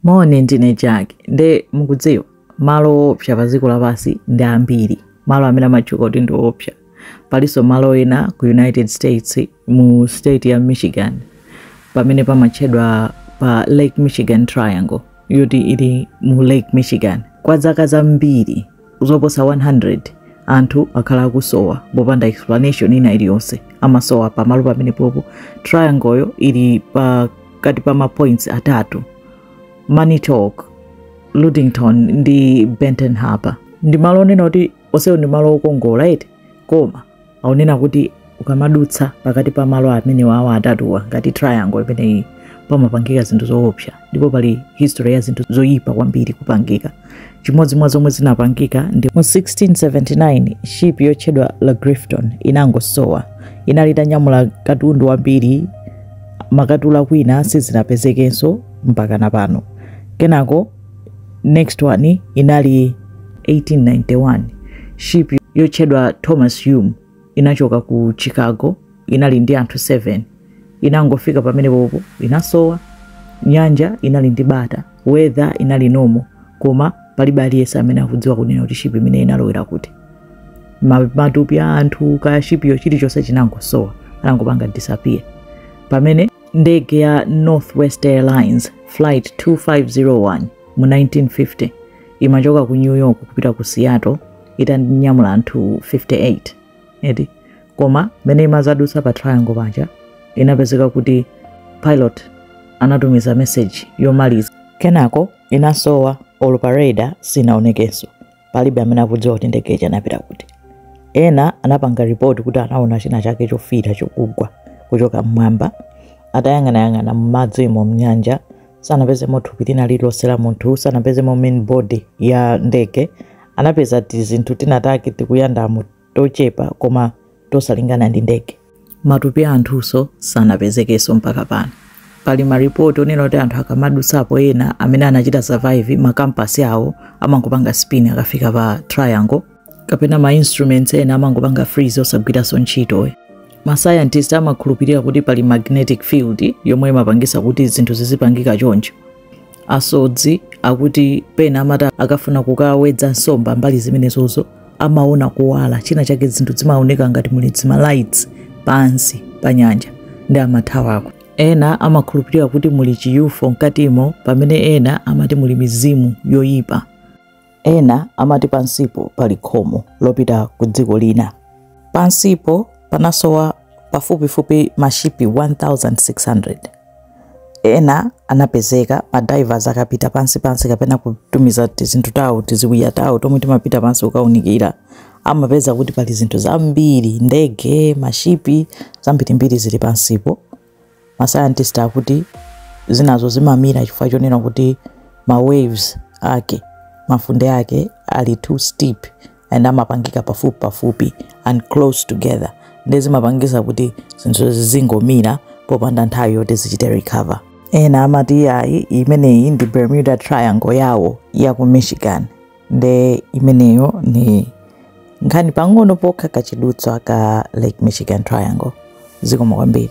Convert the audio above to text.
Moni, ndine Jack. Nde mukudziwa malo oopsa pa dziko lapansi ndi ambiri, malo amene amatchuka kuti ndi oopsa. Palinso malo ena ku United States mu state ya Michigan pamene pamatchedwa pa Lake Michigan Triangle yoti ili mu Lake Michigan kwa zaka zambiri. zoposa 100 anthu akhala akusowa popanda explanation ina iliyonse amasowa pamalo pamenepopo triangleyo ili pakati pa mapoints atatu Manitowoc Ludington ndi Benton Harbor ndi malo onena kuti onsewo ndi malo okongola eti koma akunena kuti ukamadutsa pakati pa malo amenewawa atatuwa ngati triangle imeneyi pamapangika zinthu zoopsa ndipo pali history ya zinthu zoyipa kwambiri kupangika chimodzi mwa zomwe zinapangika ndi mu 1679 ship yotchedwa Le Griffon inangosowa inali itanyamula katundu wambiri akatula kwina sizinapezekenso mpaka na pano kenako next one inali 1891 ship yotchedwa thomas hume inachoka ku chicago inali ndi anthu 7 inangofika pamenepopo inasowa nyanja inali ndi bata weather inali normal koma palibe aliyense amene akudziwa kunena kuti ship imene inalowera kuti matupi a anthu kaya shipiyo chilichonse chinangosowa anangopanga disappear pamene ndege ya northwest airlines flight 2501 mu 1950 imachoka ku new york kupita ku seattle itanyamula anthu 58 eti koma mmene imazadutsa pa triangle paja inapezeka kuti pilot anatumiza meseji yomaliza kenako inasowa olo pa radar sinaonekenso palibe amene akudziwa kuti ndege ija inapita kuti ena anapanga ripoti kuti anaona china chake chofiira chokugwa kuchoka mmwamba atayang'anayang'ana mmadzimo mnyanja sanapezemo thupi lina lililonse la munthu sanapezemo main body ya ndege anapeza tizinthu tinatake tikuyandamo tochepa koma tosalingana ndi ndege. Matupi a anthunso sanapezekenso mpaka pano. Pali maripoti onena kuti anthu akamadutsapo ena amene anachita survive makampasi awo amangopanga spin akafika pa triangle kapena ma instruments ena amangopanga freeze osagwiranso ntchito. Masayantisti amakhulupirira kuti pali magnetic field yomwe imapangitsa kuti zinthu zizipangika choncho. asodzi akuti pena amati akafuna kukawedza nsomba mbali zimenezozo amaona kuwala china chake zinthu zimaoneka ngati muli dzima lights pansi pa nyanja ndi amathawako ena amakhulupirira kuti muli chi UFO mkatimo pamene ena amati muli mizimu yoyipa Ena amati pansipo pali khomo lopita ku dziko lina. Pansipo panasowa pafupifupi mashipi 1,600. Ena anapezeka, madivers akapita pansi pansi kapena kutumiza tizinthu tawo, tiziwiya tawo tomwe timapita pansi kukaunikira, amapeza kuti pali zinthu zambiri, ndege, mashipi, zambirimbiri zili pansipo. ma scientist akuti zinazo zimamira chifukwa chonena kuti ma waves ake mafunde ake ali too steep and amapangika pafupi pafupi and close together nde zimapangisa kuti zinthu zizingomira popanda nthawi yoti zichite recover ena amati yayi imeneyi ndi bermuda triangle yawo ya ku michigan nde imeneyo ni nkhani pang'ono pokha kachidutswa ka lake michigan triangle zikomo kwambiri